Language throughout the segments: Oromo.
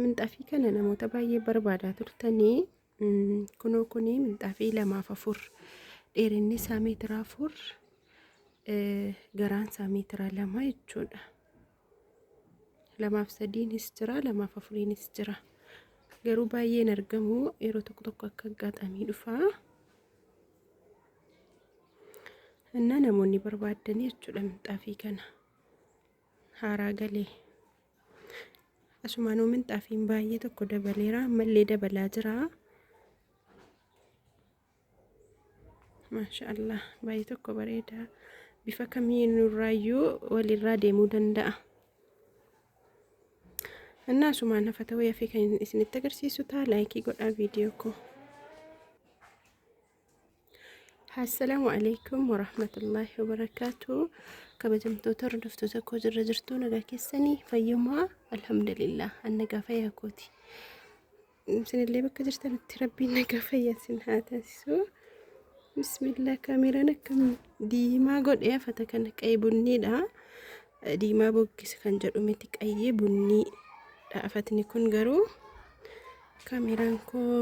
Minxaafii kana namoota baay'ee barbaadaa turtanii kunoo kuni minxaafii lamaaf afur dheerinni isaa meetira afur garaan isaa meetira lama jechuudha. Lamaaf sadiinis jira lamaaf afuriinis jira garuu baay'een argamu yeroo tokko tokko akka aggaxamii dhufa. እና namoonni barbaaddanii jechuudha minxaafii kana. haaraa gale. Asumaanuu minxaafiin baay'ee tokko dabaleera. Ammallee dabalaa jira. Maasha Allah baay'ee tokko bareeda. Bifa kamiinurraayyuu walirraa deemuu danda'a. Innaa asumaan hafa ta'uu yafee kan isinitti agarsiisu ta'a laayikii godhaa viidiyoo koo. Assalaamu alaikum warahmatullaahi wabarakaatu kabajamtoota hordoftoota koo jirra jirtuu nagaa keessanii fayyumaa alhamdulillah an nagaa fayyaa kooti isinillee bakka jirtanitti rabbiin nagaa fayyaa isin haa taasisu bismillah kaameraan akkam diimaa godhee afata kana qayi bunniidha diimaa boggisa kan jedhu miti qayi bunniidha afatni kun garuu kaameraan koo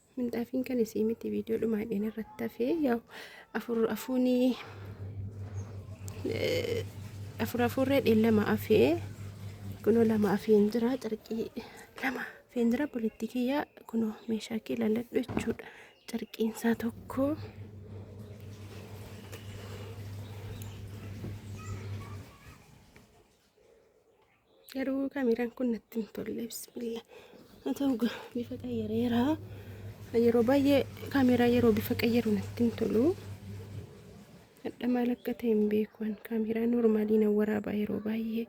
Mindaafiin kan isii miti viidiyoo dhumaadheen irratti hafee yaa'u afur afuuni afur afurree dheen lama hafee kunoo lama hafeen jira carqii lama hafeen jira bulitti kiyyaa kunoo meeshaa kee laladhu jechuudha carqiin isaa tokko. Garuu kameraan kun natti hin tolle bismillah. Haa ta'u gaa bifa qayyareera. Yeroo baay'ee kameraa yeroo bifa qayyaru natti hin tolu. Hadha maal akka ta'e hin beeku an kameraa normaalii nan waraabaa yeroo baay'ee.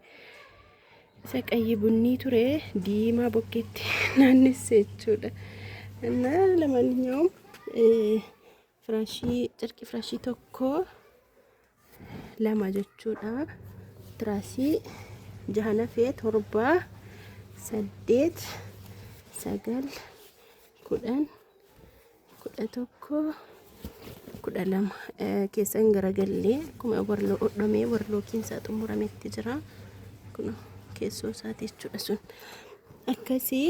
Isa qayyi bunnii ture diimaa bokkeetti naannesse jechuudha. Annaa lamaanyaawum Firashii carqii firashii tokko lama jechuudha. Tiraasii jaha nafee torba saddeet sagal kudhan kudha tokko kudha lama keessan garagallee akkuma warloo hodhamee warloo keessaa xumurametti jira. Kun keessoo isaati jechuudha sun akkasii.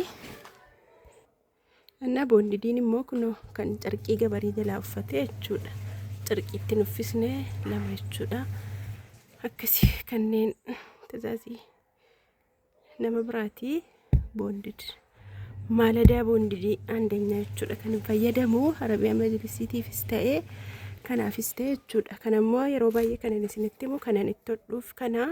እና ቦንዲዲን immoo kunoo kan carqii gabarii jalaa uffatee jechuudha carqiitti nuffisne lama jechuudha akkasi kanneen tazaazii nama biraatii boondid maaladaa boondidii aandanyaa jechuudha kan fayyadamu arabiyaa majlisiitiifis ta'ee kanaafis ta'e jechuudha kanammoo yeroo baay'ee kanan isinitti himu kanan itti hodhuuf kana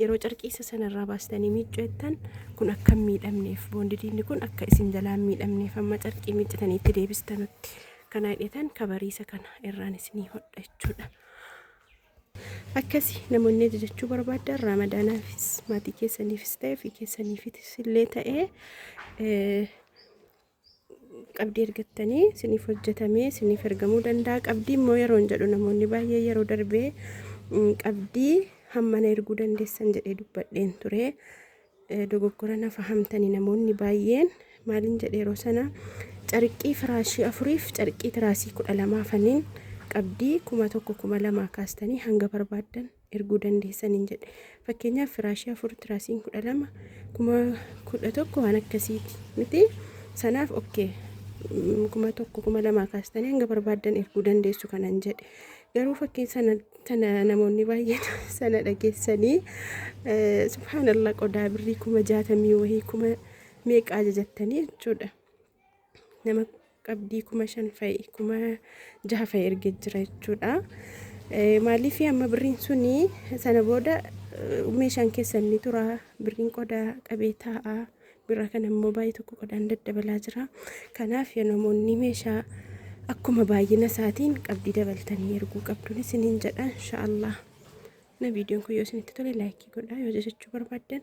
Yeroo carqii isa sana irraa baastanii miiccu jettan kun akka hin miidhamneef boondidiinni kun akka isin jalaa hin miidhamneef amma carqii miiccitanii itti deebistanutti kan haadhetan kabariisa kana irraan isinii hodha jechuudha. Akkasi namoonni ajajachuu barbaadan raamadaanaafis maatii keessaniifis ta'e ofii keessaniifis illee ta'e qabdii ergattanii siniif hojjetamee siniif ergamuu danda'a qabdii immoo yeroon jedhu namoonni baay'ee yeroo darbee qabdii hammana erguu dandeessan jedhee dubbadheen ture dogoggora nafa hamtanii namoonni baay'een maaliin jedhe yeroo sana carqii firaashii afuriif carqii tiraasii kudha lamaa faniin qabdii kuma tokko kuma lamaa kaastanii hanga barbaaddan erguu dandeessaniin jedhe. Fakkeenyaaf firaashii afur tiraasiin kudha lama kuma kudha tokko waan akkasiiti miti sanaaf okkee kuma tokko kuma lamaa kaastanii hanga barbaaddan erguu dandeessu kanan jedhe. Garuu fakkii sana tana namoonni baay'een sana dhageessanii subhaanallah qodaa birrii kuma jaatamii wahii kuma meeqa ajajattanii jechuudha. nama qabdii kuma shan fa'i kuma jaha fa'i erge jira jechuudha. Maaliif amma birriin suni sana booda meeshaan keessan ni tura birriin qodaa qabee taa'a birra kana immoo baay'ee tokko qodaan daddabalaa jira. Kanaaf yoo namoonni meeshaa akkuma baay'ina isaatiin qabdii dabaltanii erguu qabduun isiniin jedha inshaallah. Na viidiyoon kun yoo isinitti tole laayikii godhaa yoo jajachuu barbaaddan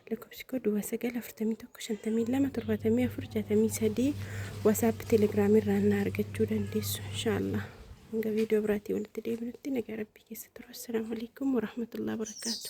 lakkoofsi koo duwwaa sagal afurtamii tokko shantamii lama torbaatamii afur jaatamii sadii wasaappi telegiraamii irraa na argachuu dandeessu inshaallah hanga viidiyoo biraatii walitti deebinutti nagaa rabbii keessa turu assalaamu alaikum warahmatullahi wabarakaatu